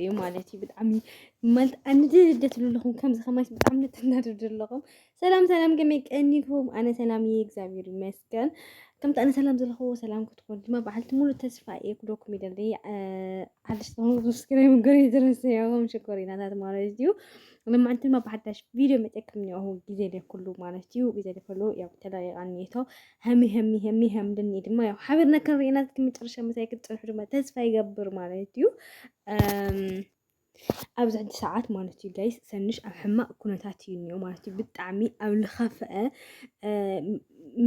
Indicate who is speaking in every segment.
Speaker 1: እዩ ማለት እዩ ብጣዕሚ ማለት ኣንድደ ትብሉ ኣለኹም ከምዚ ከማይስ ብጣዕሚ ንተናድዱ ኣለኹም ሰላም ሰላም ከመይ ቀኒኩም ኣነ ሰላም እየ እግዚኣብሔር ይመስገን ከምቲ ኣነ ሰላም ዘለኹዎ ሰላም ክትኮኑ ድማ በዓልቲ ሙሉ ተስፋ እየ ክደኩም ይደለይ ሓደሽ ዝኾኑ ሰብስክራይብ ገር ዝረሰያኹም ሽኮሪናታት ማለት እዩ ንማዓንቲ ድማ ብሓዳሽ ቪድዮ መፀክም እኒኦኹ ግዜ ደይ ኩሉ ማለት እዩ ግዜ ደይ ኩሉ ያው ተለቂቃ እኒሄቶ ሀሚ ሀሚ ሀሚ ሀም ድኒ ድማ ያው ሓቢርና ክንሪእና እስኪ መጨረሻ ምሳይ ክትፀንሑ ድማ ተስፋ ይገብር ማለት እዩ ኣብዚ ሕጂ ሰዓት ማለት እዩ ጋይስ ሰንሽ ኣብ ሕማቅ ኩነታት እዩ እኒኦ ማለት እዩ ብጣዕሚ ኣብ ልኸፍአ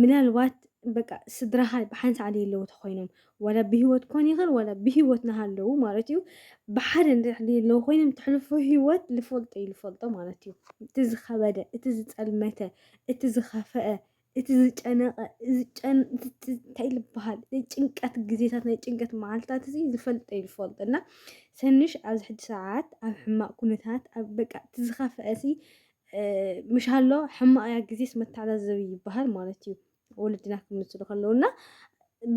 Speaker 1: ምናልባት በቃ ስድራኻ ብሓን ሰዓት የለው ተኮይኖም ወላ ብሂወት ኮን ይኽእል ወላ ብሂወት ናሃለው ማለት እዩ ብሓደ እንድሕር የለው ኮይኖም ትሕልፎ ሂወት ልፈልጦ እዩ ልፈልጦ ማለት እዩ እቲ ዝኸበደ እቲ ዝፀልመተ እቲ ዝኸፈአ እቲ ዝጨነቐ እንታይ ልበሃል ናይ ጭንቀት ግዜታት ናይ ጭንቀት መዓልትታት እዚ ዝፈልጠ እዩ ዝፈልጦ እና ሰንሽ ኣብዚ ሕጂ ሰዓት ኣብ ሕማቕ ኩነታት ኣብ በቃ እቲ ዝኸፍአ እዚ ምሽ ኣሎ ሕማቕ እያ ግዜስ መተዓዛዘቢ ይበሃል ማለት እዩ ወለድና ክምስሉ ከለዉ እና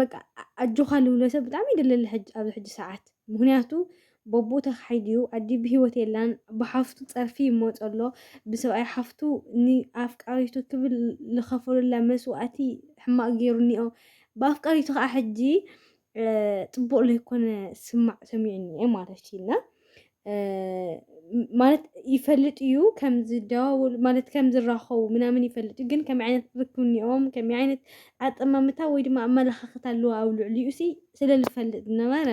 Speaker 1: በቃ ኣጆኻ ልብሎ ሰብ ብጣዕሚ ይደለለ ኣብዚ ሕጂ ሰዓት ምክንያቱ በቡኡ ተኻሒዱ'ዩ፣ ኣዲኡ ብህይወት የላን፣ ብሓፍቱ ጸርፊ ይመጾ ኣሎ፣ ብሰብኣይ ሓፍቱ ንኣፍቃሪቱ ክብል ልኸፈሉላ መስዋእቲ ሕማቕ ጌሩኒኦ፣ ብኣፍቃሪቱ ከኣ ሕጂ ጽቡቕ ለይኮነ ስማዕ ሰሚዑኒ'የ ማለት'ዩ እና ማለት ይፈልጥ እዩ ከም ዝደዋወሉ ማለት ከም ዝራኸቡ ምናምን ይፈልጥ እዩ ግን ከመይ ዓይነት ርክብኒኦም ከመይ ዓይነት ኣጠማምታ ወይ ድማ ኣመለኻኽታ ኣለዎ ኣብ ልዕሊኡ ሲ ስለ ዝፈልጥ ዝነበረ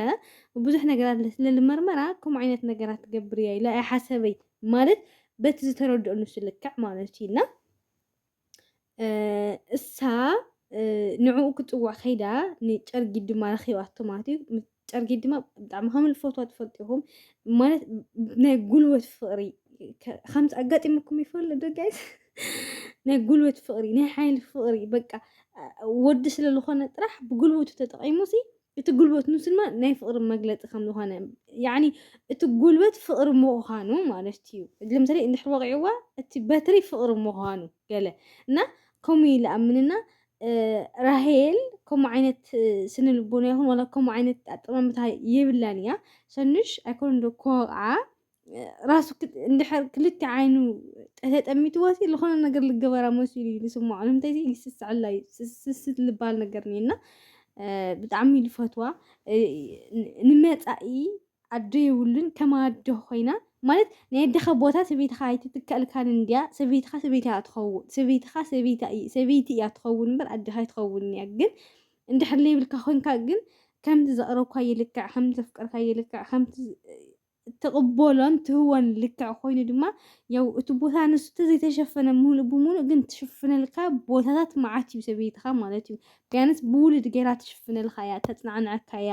Speaker 1: ብዙሕ ነገራት ለልመርመራ ከምኡ ዓይነት ነገራት ትገብር እያ ኢላ እያ ሓሰበይ ማለት በቲ ዝተረድኦ ንሱ ልክዕ ማለት እዩ እና እሳ ንዕኡ ክፅዋዕ ከይዳ ንጨርጊድ ድማ ረኪባቶ ማለት እዩ ጨርጊድ ድማ ብጣዕሚ ከም ልፈትዋ ትፈልጡ ኢኹም ማለት ናይ ጉልበት ፍቅሪ ከምዚ ኣጋጢሙኩም ይፈልጥ ዶ ጋይስ ናይ ጉልበት ፍቅሪ ናይ ሓይሊ ፍቅሪ በቃ ወዲ ስለዝኾነ ጥራሕ ብጉልበቱ ተጠቂሙ ሲ እቲ ጉልበት ንሱ ድማ ናይ ፍቕሪ መግለፂ ከም ዝኾነ ያኒ እቲ ጉልበት ፍቕሪ ምዃኑ ማለት እዩ ለምሳሌ እንድሕር ወቂዕዋ እቲ በትሪ ፍቕሪ ምዃኑ ገለ እና ከምኡ ኢለ ኣምንና ራሄል ከምኡ ዓይነት ስነ ልቦና ይኹን ዋላ ከምኡ ዓይነት ኣጠማምታ የብላን እያ ሰኑሽ ኣይኮነ ዶ ክወቕዓ ራሱ እንድሕር ክልተ ዓይኑ ተጠሚትዎሲ ዝኾነ ነገር ልገበራ መሲሉ እዩ ዝስምዖ ንምንታይ ይስስዐላ እዩ ስስት ልበሃል ነገር እኒአና ብጣዕሚ ልፈትዋ ንመፃኢ ኣደ የብሉን ከም ኣደ ኮይና ማለት ናይ ኣደኻ ቦታ ሰበይትኻ ኣይትትከልካን እንድያ ሰበይትኻ ሰበይቲ እያ ትኸውን ሰበይትኻ ሰበይታ እይ- ሰበይቲ እያ ትኸውን እምበር ኣደኻ ኣይትኸውን እያ ግን እንድሕር ለይብልካ ኮንካ ግን ከምቲ ዘቕረብካ ይልክዕ ከምቲ ዘፍቀርካ ይልክዕ ከምቲ ትቕበሎን ትህቦን ልክዕ ኮይኑ ድማ ያው እቲ ቦታ ንሱ ተዘይተሸፈነ ምሉእ ብምሉእ ግን ትሽፍነልካ ቦታታት መዓት እዩ ሰበይትኻ ማለት እዩ ቢያንስ ብውሉድ ገይራ ትሽፍነልካ እያ ተፅናዕናዕካ እያ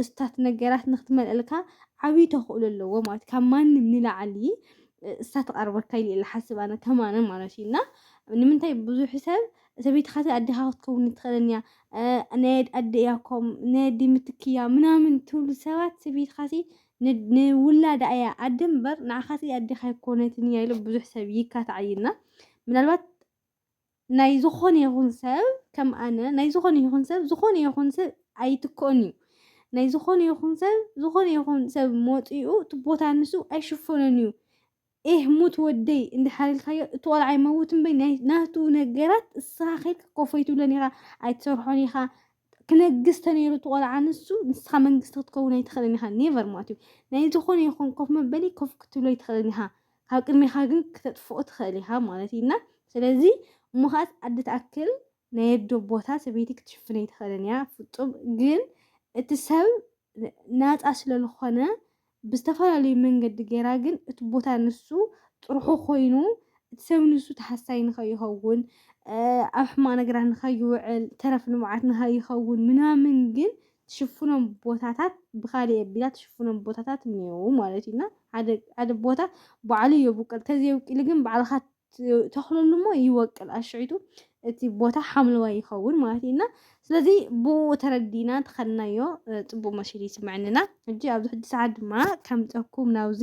Speaker 1: እስታት ነገራት ንክትመልእልካ ዓብዪ ተኽእሎ ኣለዎ ማለት ካብ ማንም ንላዕሊ እሳ ትቐርበካ ኢሉ ሓስብ ኣነ ከማነ ማለት እዩ እና ንምንታይ ብዙሕ ሰብ ሰበይትኻ እታ ኣዴኻ ክትከውን ኣይትኽእልን እያ፣ ናይ ኣደ እያ እኮ፣ ናይ ኣደ ምትኪ እያ ምናምን ትብሉ ሰባት ሰበይትኻሲ ንውላዳ እያ ኣደ እምበር ንዓኻሲ ኣዴኻ ኣይኮነትን እያ ኢሉ ብዙሕ ሰብ ይካታዓይና ምናልባት ናይ ዝኾነ ይኹን ሰብ ከም ኣነ ናይ ዝኾነ ይኹን ሰብ ዝኾነ ይኹን ሰብ ኣይትክኦን እዩ ናይ ዝኾነ ይኹን ሰብ ዝኾነ ይኹን ሰብ መፂኡ እቲ ቦታ ንሱ ኣይሽፈኖን እዩ ኤህ ሙት ወደይ እንድሕር ኢልካዮ እቲ ቆልዓ ይመውት እምበይ ናይ ናቱ ነገራት እስኻ ኬድካ ኮፍ ኣይትብሎን ኢኻ ኣይትሰርሖን ኢኻ ክነግስ ተነይሩ እቲ ቆልዓ ንሱ ንስኻ መንግስቲ ክትከውን ኣይትኽእልን ኢኻ ኔቨር ማለት እዩ ናይ ዝኾነ ይኹን ኮፍ መበሊ ኮፍ ክትብሎ ኣይትኽእልን ኢኻ ካብ ቅድሜኻ ግን ክተጥፍኦ ትኽእል ኢኻ ማለት እዩ እና ስለዚ እሞ ከዓት ኣደ ትኣክል ናይ ኣዶ ቦታ ሰበይቲ ክትሽፍን ኣይትኽእልን እያ ፍፁም ግን እቲ ሰብ ናፃ ስለልኾነ ብዝተፈላለዩ መንገዲ ገይራ ግን እቲ ቦታ ንሱ ጥርሑ ኮይኑ እቲ ሰብ ንሱ ተሓሳይ ንኸይኸውን ኣብ ሕማቕ ነገራት ንኸይውዕል ተረፍ ንብዓት ንኸይኸውን ምናምን ግን ትሽፍኖም ቦታታት ብካሊእ ኣቢላ ትሽፍኖም ቦታታት እኒአው ማለት እዩና ሓደ ሓደ ቦታ ባዕሉ የብቁል ተዘየብቂሉ ግን ባዕልካ ተኽለሉ እሞ ይወቅል ኣሽዒቱ እቲ ቦታ ሓምለዋይ ይኸውን ማለት እዩ እና ስለዚ ብኡ ተረዲና ተኸድናዮ ፅቡቅ መሲሉ ይስምዐንና ሕጂ ኣብዚ ሕጂ ሰዓት ድማ ከምፀኩም ናብዚ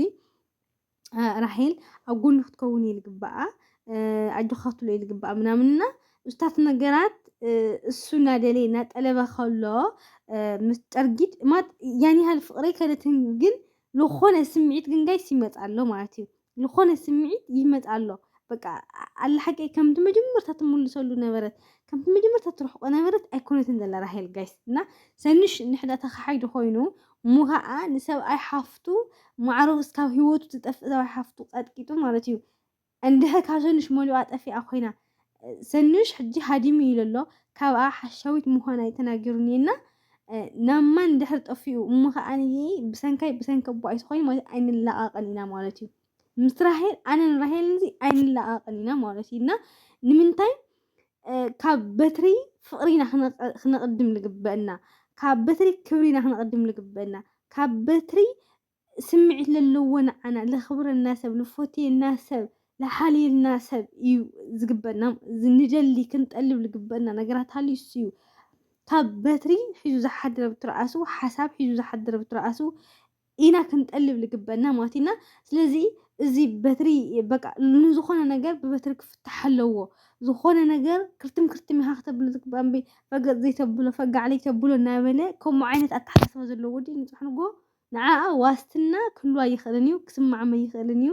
Speaker 1: ራሄል ኣብ ጎኑ ክትከውን እዩ ዝግባኣ ኣጆካ ክትብሎ እዩ ዝግባኣ ምናምንና ምስታት ነገራት እሱ እናደለ እናጠለበ ከሎ ምስ ጠርጊት ማት ያን ያህል ፍቅረይ ከነትን ግን ዝኾነ ስምዒት ግን ጋይስ ይመፅ ኣሎ ማለት እዩ ልኾነ ስምዒት ይመጻ ኣሎ በቃ ኣላ ሓቀይ ከምቲ መጀመርታ ትምልሰሉ ነበረት ከምቲ መጀመርታ ትርሕቆ ነበረት ኣይኮነትን ዘላ ራሄል ጋይስ እና ሰኑሽ ንሕዳ ተኻሓይዱ ኮይኑ እሞ ከዓ ንሰብኣይ ሓፍቱ ማዕረው እስካብ ህይወቱ ትጠፍእ ሰብኣይ ሓፍቱ ቀጥቂጡ ማለት እዩ እንድሕር ካብ ሰኑሽ መሊኣ ጠፊኣ ኮይና ሰኑሽ ሕጂ ሃዲሙ እዩ ለሎ ካብኣ ሓሻዊት ምዃና እዩ ተናጊሩኒ እና ናብ ማን ድሕር ጠፊኡ እሞ ከኣ ብሰንካይ ብሰንኪ ኣቦ ኣይትኾይን ማለት ኣይንላቃቅን ኢና ማለት እዩ ምስ ራሄል ኣነን ራሄልን እዚ ኣይንላቃቅን ኢና ማለት እዩ እና ንምንታይ ካብ በትሪ ፍቅሪና ክነቅድም ልግበአና ካብ በትሪ ክብሪና ክነቅድም ልግበአና ካብ በትሪ ስምዒት ለለዎ ንዓና ለኽብረና ሰብ ልፎትየና ሰብ ልሓልየልና ሰብ እዩ ዝግበና ንደሊ ክንጠልብ ልግበና ነገራት ሃልዩ እሱ እዩ ካብ በትሪ ሒዙ ዝሓድረ ብትርኣሱ ሓሳብ ሒዙ ዝሓድረ ብትርኣሱ ኢና ክንጠልብ ልግበና ማለት ኢና ስለዚ እዚ በትሪ በቃ ንዝኾነ ነገር ብበትሪ ክፍታሕ ኣለዎ ዝኾነ ነገር ክርትም ክርትም ኢኻ ክተብሎ ዝግባእ እምበይ ረገፅ ዘይተብሎ ፈጋዕ ዘይተብሎ እናበለ ከምኡ ዓይነት ኣተሓሳስባ ዘለዎ ወዲ ንፅሕንጎ ንዓኣ ዋስትና ክህልዋ ኣይኽእልን እዩ፣ ክስምዓም ኣይኽእልን እዩ፣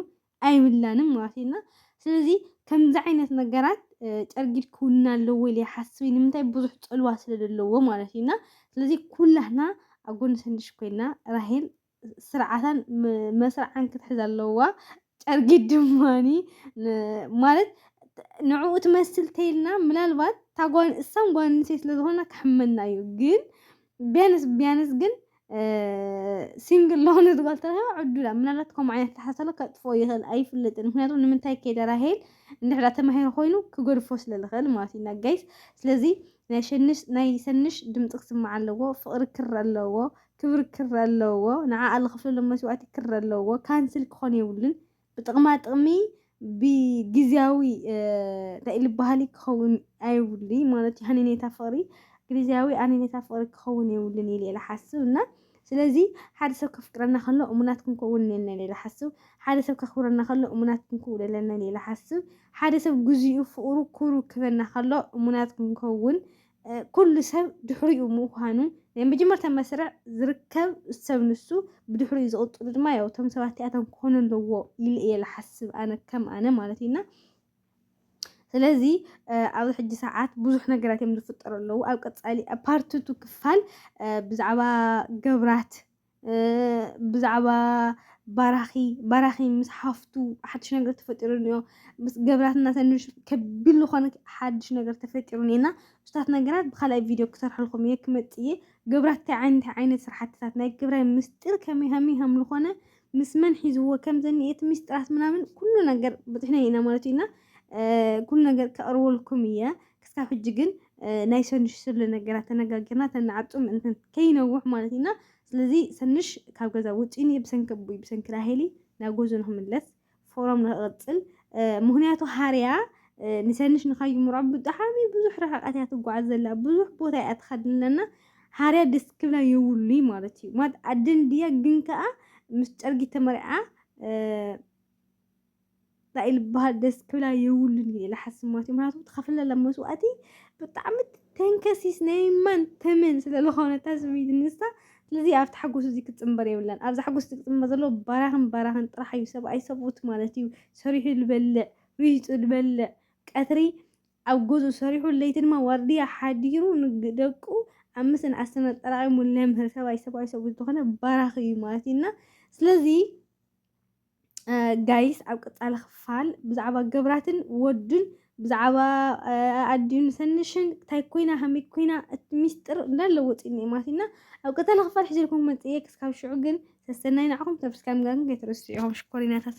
Speaker 1: ኣይብላንን ማለት እዩ እና ስለዚ ከምዚ ዓይነት ነገራት ጨርጊድ ክውንን ኣለዎ ኢለ ይሓስብ ንምንታይ ብዙሕ ጽልዋ ስለ ዘለዎ ማለት እዩ እና ስለዚ ኩላህና ኣብ ጎኒ ሰንድሽ ኮይና ራሄል ስርዓታን መስርዓን ክትሕዝ ኣለዋ ጨርጊድ ድማ ማለት ንዕኡ ትመስል ተይልና ምናልባት እታ ጓል እሳም ጓል ኣንስተይቲ ስለ ዝኾና ክሕመና እዩ ግን ቢያንስ ቢያንስ ግን ሲንግል ለሆነት ጓል ተረኺባ ዕዱላ ምናልባት ከምኡ ዓይነት ተሓሳሎ ከጥፎ ይኽእል ኣይፍለጥን ምክንያቱ ንምንታይ ከይደ ራሄል እንድሕዳ ተማሂሩ ኮይኑ ክገድፎ ስለ ዝኽእል ማለት እዩ ጋይስ ስለዚ ናይ ሸንሽ ናይ ሰንሽ ድምፂ ክስማዕ ኣለዎ ፍቕሪ ክር ኣለዎ ክብሪ ክር ኣለዎ ንዓኣ ልኽፍለሉ መስዋእቲ ክር ኣለዎ ካንስል ክኾን የብሉን ብጥቕማ ጥቕሚ ብግዝያዊ እንታይ ልበሃሊ ክኸውን ኣይብሉይ ማለት ሃኒኔታ ፍቕሪ ግዝያዊ ኣኒኔታ ፍቕሪ ክኸውን የብሉን ኢለ ልሓስብ እና ስለዚ ሓደ ሰብ ከፍቅረና ከሎ እሙናት ክንከውን ነና ኢለ ልሓስብ ሓደ ሰብ ከኽብረና ከሎ እሙናት ክንክውን ኣለና ኢለ ልሓስብ ሓደ ሰብ ግዜኡ ፍቕሩ ክብሩ ክበና ከሎ እሙናት ክንከውን ኩሉ ሰብ ድሕሪኡ ምዃኑ ናይ መጀመርታ መስርዕ ዝርከብ ሰብ ንሱ ብድሕሪኡ ዝቕፅሉ ድማ ያው እቶም ሰባት እቲኣቶም ክኾኑ ኣለዎ ኢለ እየ ዝሓስብ ኣነ ከም ኣነ ማለት እዩና ስለዚ ኣብዚ ሕጂ ሰዓት ብዙሕ ነገራት እዮም ዝፍጠሩ ኣለዉ ኣብ ቀፃሊ ፓርትቱ ክፋል ብዛዕባ ገብራት ብዛዕባ ባራኺ ባራኺ ምስ ሓፍቱ ሓድሽ ነገር ተፈጢሩ እኒኦ ምስ ገብራት እናተንሽ ከቢል ዝኾነ ሓድሽ ነገር ተፈጢሩ እኒና ምስታት ነገራት ብካልኣይ ቪድዮ ክሰርሐልኩም እየ ክመፅእ እየ ገብራት እንታይ ዓይነት ዓይነት ስራሕትታት ናይ ግብራይ ምስጢር ከመይ ሃመይ ሃም ዝኾነ ምስ መን ሒዝዎ ከም ዘኒኤ እቲ ምስጢራት ምናምን ኩሉ ነገር በፂሕና ኢና ማለት እዩና ኩሉ ነገር ከቕርበልኩም እየ ክሳብ ሕጂ ግን ናይ ሰኑሽ ስለ ነገራት ተነጋጊርና ተናዓጹ ምእንትን ከይነውሕ ማለት ኢና ስለዚ ሰኑሽ ካብ ገዛ ውጪኒ ብሰንኪ ኣቦይ ብሰንኪ ራሄሊ ናብ ጎዞ ንክምለስ ፎሮም ንክቅጽል ምክንያቱ ሃርያ ንሰንሽ ንካይምሮ ብጣዕሚ ብዙሕ ርሕቀት እያ ትጓዓዝ ዘላ ብዙሕ ቦታ እያ ትኸድ ኣለና ሃርያ ደስ ክብላ የብሉይ ማለት እዩ ማለት ኣደን ድያ ግን ከዓ ምስ ጨርጊ ተመርዓ እንታይ ልበሃል ደስ ክብላ የብሉን እየ ኢለ ሓስብ ማለት እዩ ምክንያቱ ትኸፍለላ መስዋእቲ ብጣዕሚ ተንከሲስ ናይ ማን ተመን ስለ ዝኾነታ ስምዒት ንሳ ስለዚ ኣብቲ ሓጎስ እዚ ክትፅምበር የብላን ኣብዛ ሓጎስ እዚ ክትፅምበር ዘለዎ ባራኽን ባራኽን ጥራሕ እዩ ሰብኣይ ሰብኡት ማለት እዩ ሰሪሑ ዝበልዕ ሪሂፁ ዝበልዕ ቀትሪ ኣብ ገዝኡ ሰሪሑ ለይቲ ድማ ዋርድያ ሓዲሩ ንደቁ ኣብ ምስን ኣሰና ጠራቒሙ ለምህር ሰብኣይ ሰብኣይ ሰብኡት ዝኾነ ባራኺ እዩ ማለት እዩ እና ስለዚ ጋይስ ኣብ ቀጻሊ ክፋል ብዛዕባ ገብራትን ወዱን ብዛዕባ ኣዲዩን ሰንሽን እንታይ ኮይና ከመይ ኮይና እቲ ሚስጥር እንዳለ ወፂኡ እኒኦ ማለት እና ኣብ ቀጻሊ ክፋል ሕጂ ልኩም መፅየ ክስካብ ሽዑ ግን ሰሰናይ ንዓኹም ሰብስክራይብ ምግባርኩም ከይትረስዑ ኢኹም ሽኮሪናታት